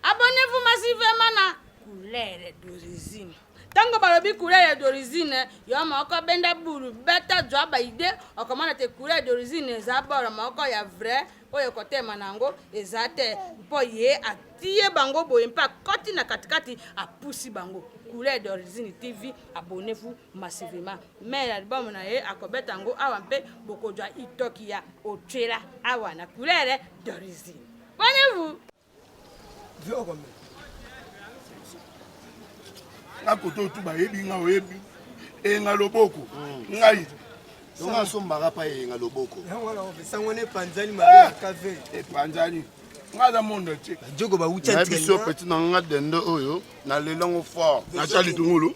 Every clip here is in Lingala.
Abonnez-vous massivement na couleur d'origine. Tango balobi couleur d'origine, yo moko benda bulu, beta zwa ba idée, okomona te couleur d'origine eza bord moko ya vrai oyo kotema na yango eza te mpo ye atie bango boye mpe akoti na katikati apusi bango couleur d'origine tv abonnez-vous massivement mais album na ye akobeta yango awa mpe bokozwa itoki ya otyela awa na couleur d'origine abonnez-vous nga koto tu bayebi nga oyebi enga loboko mm. ngai yango asombaka mpa eyenga loboko sango ne epanzani mabe ya kave epanzani nga aza mondo te jogo bawutia biso peti na nga dende oyo na lelango fort natya litungulu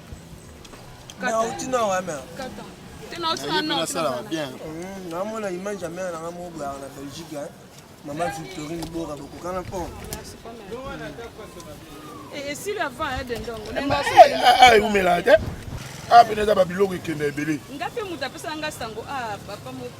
namona image ya mare nanga moko boyaka na belgique mama victorine bora bokokana po eumela te apena eza babiloko ekenda ebele nga mpe moto apesaka nga sango a ah, papa moko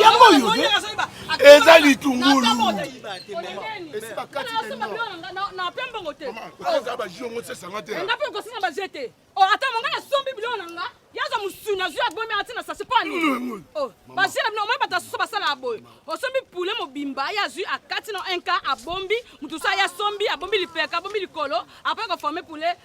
yango oyo eza litungulu ata monga nasombi biloko na nga yaza mosuni azwi abomi ati na sasi mpo anini basi na bino omoi bato asusu basala ya boye osombi pule mobimba ye azwi akati na nka abombi moto so aye asombi abombi lipeka abombi likolo apres koforme pule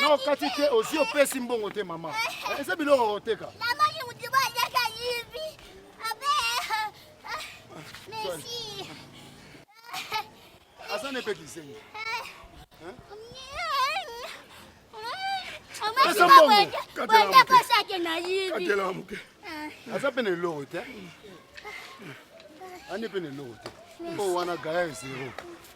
na okati te osi opesi mbongo te mama eh. eza biloko koteka aza na epekisengi aza mpe na eloko te ani mpe na eloko te mpo wana gaya zero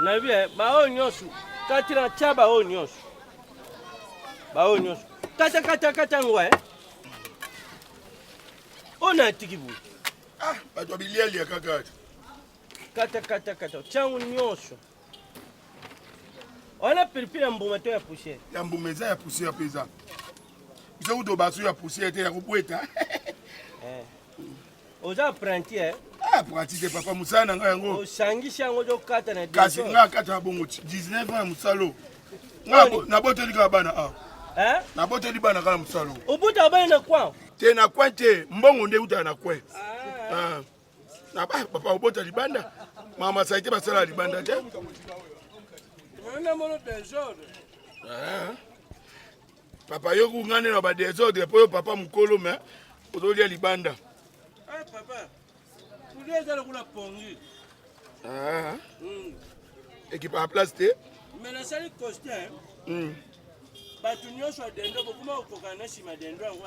nayebi eh, baoyo nyonso kati na tya baoyo nyonso baoyo nyonso kata kata kata yango e oyo natiki boye ah, bato ya bilialia kaka kata kata kata tyango nyonso wana pilipili ya mbuma to ya poussière ya mbuma eza ya poussière mpe eza biso kuto baso ya poussière te ya kobweta eh. oza apprenti eh? Ah, apprenti te papa mosala na ngai yango osangisi yango ozokata na kasi ngai akata na bongo 19 ans ya mosala oyo naboteli kaka bana awa ah. eh? naboteli bana kaka na mosala oyo obotaka bana na kwan te na kwan te mbongo nde eutaka na kwan ah. ah. na ba papa obota libanda mama saite basala libanda te Papa yo kungane na ba desordre po yo papa mukolo mais ozolia libanda. Eh hey, papa. Kulia ezala kula pongi. Ah. Mm. Ekipa ya place te. Mais na sali costume. Mm. Bato nyonso ya dendo bokuma kokokana na nsima dendo yango.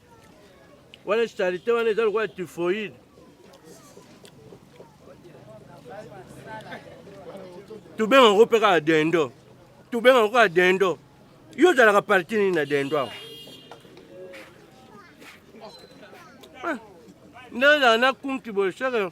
Wana charité wana eza lokola typhoïde. Tobenga yango mpe kaka dendo, tobenga yango kaka dendo. Yo ozalaka parti nini na dendo awa? Ah, nde ozala na kunki boye seke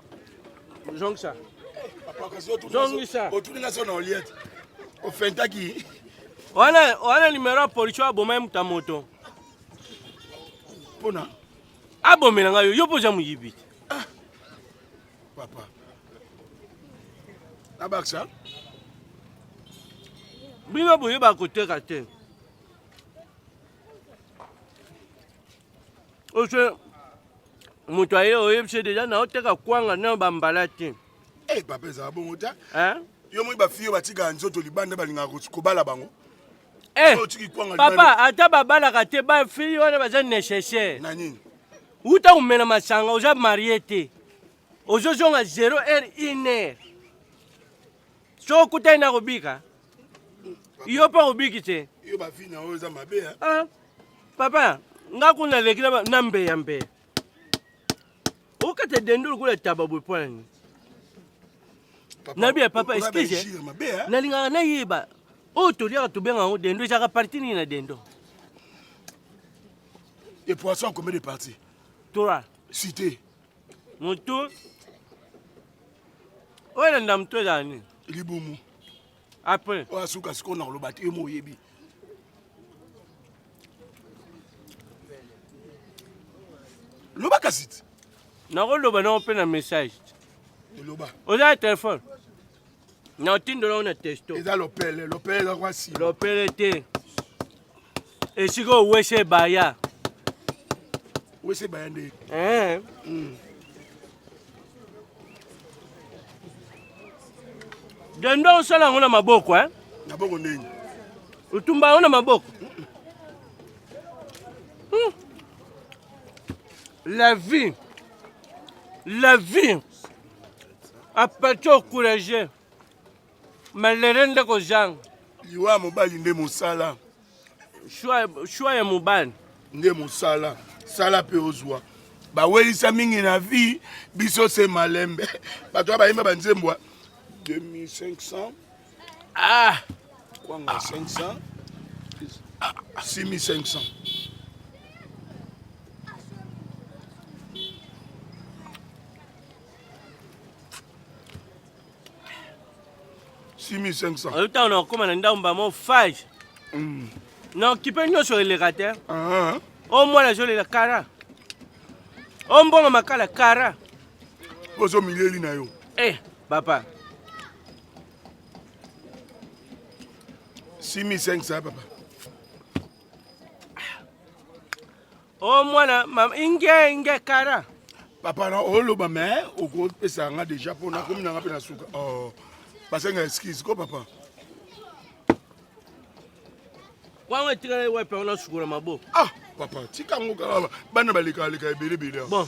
zongisa zongisa otuni nga so na oliete ofentaki wana wana nimero ya police aboma ye moto ya moto mpona abomela ngai yo yo mpo oza moyibi te ah, papa nabakisa bino boyebaka koteka te Ose moto aye oyebise deja na oteka kwanga na bambala te. Eh papa ezala bongo te. Hein? Yo moi ba fille batika nzoto libanda balinga kobala bango. Eh, papa ata babalaka te ba fille wana baza nécessaire. Na nini? Uta umela masanga oza marié te. Ozozonga 0 heure 1 heure. So okutani na kobika. yo mpe obiki te yo bavi na oyo eza mabe ya ah, papa nga kuna leki na mbeya mbeya okata dendo lokola taba boye mpo na nini nabi ya papa excuse nalingaka nayeba oyo toliaka tobenga yango dendo ezalaka parti nini na dendo epoisson combien de parti trois cité Mutu oyo elanda mutu ezala nini? Libumu. Après. Oyo asuka sikoyo na koloba te, yo mo oyebi. Loba kasi ti. Nakoloba nango mpe na message. Eloba. Oza na telefone? na otindola yo na testo eza lopele lopele eza kwa sima lopele te esika owese baya wese baya nde eh. mm. dendo osala yango na maboko eh? na boko ndenge otumba yango na maboko hmm. la vie la vie apati ocourage malere nde kozanga liwa ya mobali nde mosala shwa ya mobali nde mosala sala mpe ozwa bawelisa mingi na vie biso se malembe bato ya bayemba banzembwa 2500 Ah! Kwanga 500. 6500. Simi 500. Oyo ntango nakokoma na ndambo bamo fage mm. na okipe nyonso eleka te ah. o mwana azolela kara o mbongo makala kara ozo milieli na yo eh papa simi 500 papa o oh, mwana inge inge kara papa na oloba me okopesa nga deja mpo nakomi nanga mpe na suka oh, basenga excuse ko papa wango etikali wapi ona sukola mabo ah papa tika yango kaka bana balekaleka ebelebele bon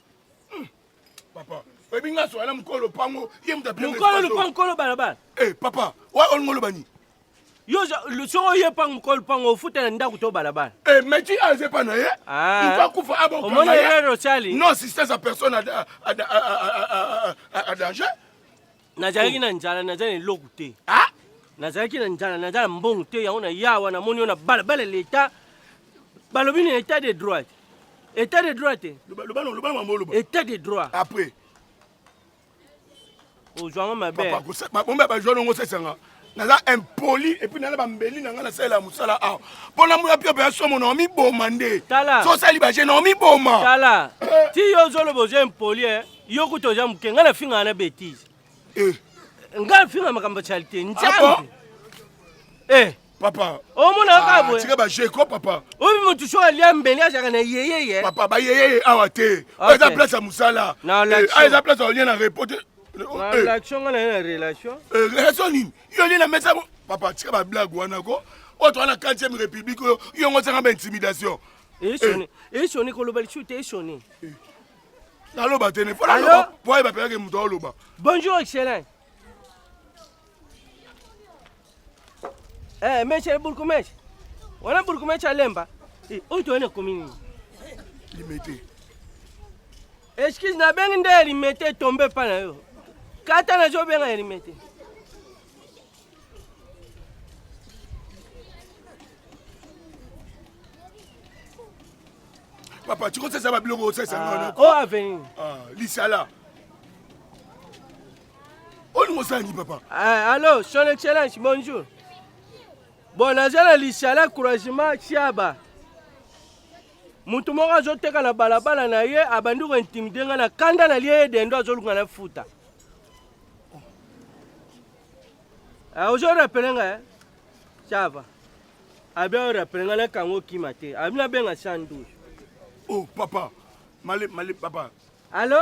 Hmm. Papa, oyebi nga soya na mokolo lopango ye moto apia mokolo lopango mokolo balabala eh papa wa olingi oloba nini yo soko oye pango mokolo lopango ofuta na ndako to balabala eh meti aze pa na ye ah. moto akufa abomona erreur osali non assistance à personne à danger nazalaki na njala naza na eloko te ah? nazalaki na njala naza na mbongo te yango na ya wana moni yo na balabala leta balobi na etat de droit etat de droit te etat de droit après ozwanga mabe bajwa nongo sesanga naza impoli epuis nana bambeli na ngai nasalela mosala awa mpo na mona piope ya somo na omiboma nde so osali baje na omiboma tala eh. ti yo ozoloba oza impoli e yo kuta oza moke ngai nafingaka na betise eh. ngai nafinga makambo ya charité ah nzambe eh. papa omona kaka ah, boyetika baje ko papa obi motu so alia mbeli azalaka na yeyeye papa bayeyeye awa te eza place ya mosala eza place ya olie na repos te Na relation nga na ye na relation. Eh, relation nini? Yo nini na mesa ko? Papa tika ba blague wana ko. Oyo toza na 4e république oyo yo ngo sanga ba intimidation. Eshoni, eshoni koloba lisu te eshoni. Naloba te ne fona Allô? loba. Po ayeba pe yake moto oloba. Bonjour excellent. Eh, meche eh, burkumeche. Wana burkumeche alemba. Eh, oyo toyene komi nini? Limete. Excuse na bengi nde limete tombe pa na yo. Kata na zo benga limete. Papa, tu conseilles ça va biloko osesa ah, ngono. Oh avenue. Ah, lisala. olingo osangi papa ah, allo son excellence bonjour bon naza na lisala croisement ciaba moto moko azoteka na balabala na ye abandi kointimide ngai na kanda na lie ye dendo azoluka na futa ah, ozo rapele ngai eh? ciaba abi orapele ngai nakanga okima te abi nabenga 112 oh papa male male papa allo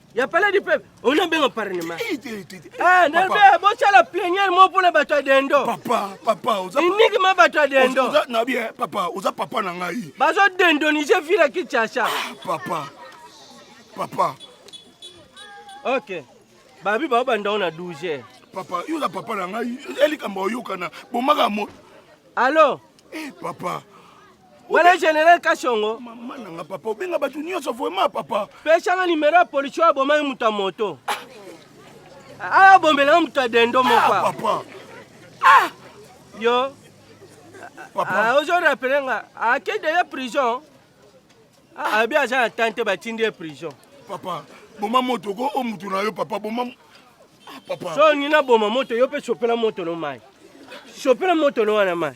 ya palais du peuple ona benga parlement ah ndebe bosala plenière mo mpona bato ya dendo papa papa oza iniki ma bato ya dendo oza na bien papa oza papa na ngai bazo dendonise vila kinshasa ah, papa papa ok babi bao bandango na 12 papa yo oza papa na ngai elikambo oyokana bomaka mo alo eh papa Wala general Kashongo. Mama nanga papa obenga batu nyonso vraiment papa. Pesa na numero ya police oyo abomaki moto ya moto. Aya bombela moto ya dendo moko. Ah, papa. Ah. Yo. Papa. Ah, ozo rappeler nga ake deja prison. Ah, abi aza na temps te batindi ye prison. Papa, boma moto ko o mutu na yo papa boma. Ah, papa. So nina boma moto yo pe sopela moto no mai. Sopela moto no wana mai.